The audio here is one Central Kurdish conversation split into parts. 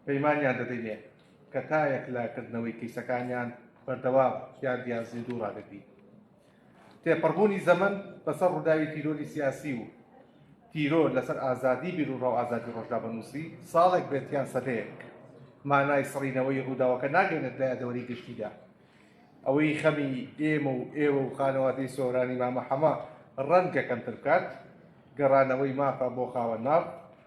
پەیمانیان دەدەینێ کە تا یەکلا کردنەوەی کەیسەکانیان بەردەوام یادیان زیندوو ڕادەگرین تێپەڕبوونی زەمن بەسەر ڕووداوی تیرۆری سیاسی و تیرۆر لەسەر ئازادی بیر و ڕاو ئازادی ڕۆژدا بەنووسی ساڵێک بێتیان سەدەیەک مانای سڕینەوەی ڕووداوەکە ناگەێنێت لە یادەوەری گشتیدا ئەوەی خەمی ئێمە و ئێوە و خانەوادەی سۆرانی مامە حەمە ڕەنگەکەم تر بکات گەڕانەوەی مافە بۆ خاوە ناو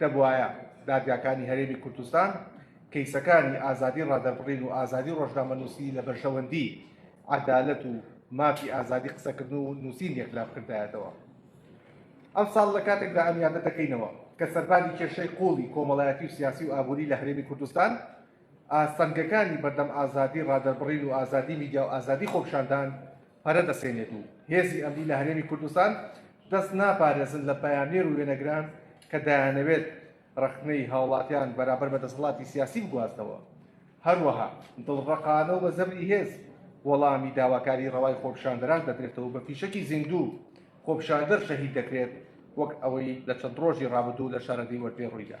دەبوایە دادگاکانی هەرێمی کوردستان کەیسەکانی ئازادی ڕادەربڕین و ئازادی ڕۆژنامەنووسی لە بەرژەوەندی عەدالەت و مافی ئازادی قسەکردن و نووسین یەکلا بکردایەتەوە. ئەمساڵ لە کاتێکدا ئەم یادە دەکەینەوە کە سەرباری کێشەی قوڵی کۆمەڵایەتی و سیاسی و ئابووری لە هەرێمی کوردستان ئاستەنگەکانی بەردەم ئازادی ڕادەربڕین و ئازادی میدیا و ئازادی خۆپیشاندان پەرە دەسێنێت و هێزی ئەمنی لە هەرێمی کوردستان دەست ناپارێزن لە پەیامنێر و وێنەگران کە دەیانەوێت ڕەخنەی هاوڵاتیان بەرامبەر بە دەسەڵاتی سیاسی بگوازنەوە هەروەها دڵڕەقانە و بە زەبری هێز وەڵامی داواکاری ڕەوای خۆپشاندەران دەدرێتەوە بە فیشەکی زیندوو خۆپشاندەر شەهید دەکرێت وەک ئەوەی لە چەند ڕۆژی ڕابردوو لە شارەدەی وەرپێ ڕوویدا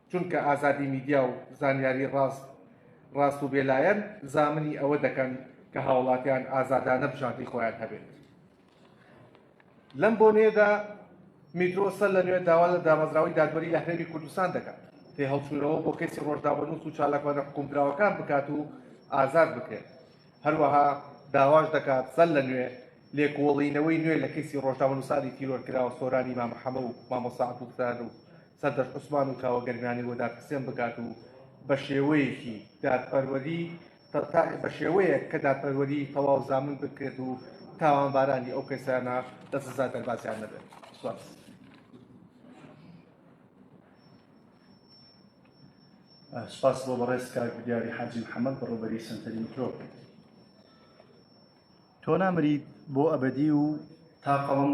چونکە ئازادی میدیا و زانیاری ڕاست ڕاست و بێلایەن زامنی ئەوە دەکەن کە هاوڵاتیان ئازادانە بژاردی خۆیان هەبێت لەم بۆنەیەدا میترۆ سەر لە نوێ داوا لە دامەزراوەی دادوەری لە هەرێمی کوردستان دەکات تێ هەڵچوونەوە بۆ کەسی ڕۆژداوەنووس و چالاکوانە حکومدراوەکان بکات و ئازاد بکرێت هەروەها داواش دەکات سەر لە نوێ لێکۆڵینەوەی نوێ لە کەسی ڕۆژنامەنووسانی تیرۆرکراوە سۆرانی مامەحەمە و مامۆسا عەبدولستار و سەردەشت عوسمان و کاوە گەرمیانی بۆ دادپرسێن بکات و بە شێوەیەکی دادپەروەری بە شێوەیەک کە دادپەروەری تەواو زامن بکرێت و تاوانبارانی ئەو کەسانە لە سزا دەربازیان نەبێت سواز. سپاس بۆ بەڕێز کار دیاری حاجی محەممەد بەڕوبەری سنتەری میکرۆ تۆ نامریت بۆ ئەبدی و تا قەڵم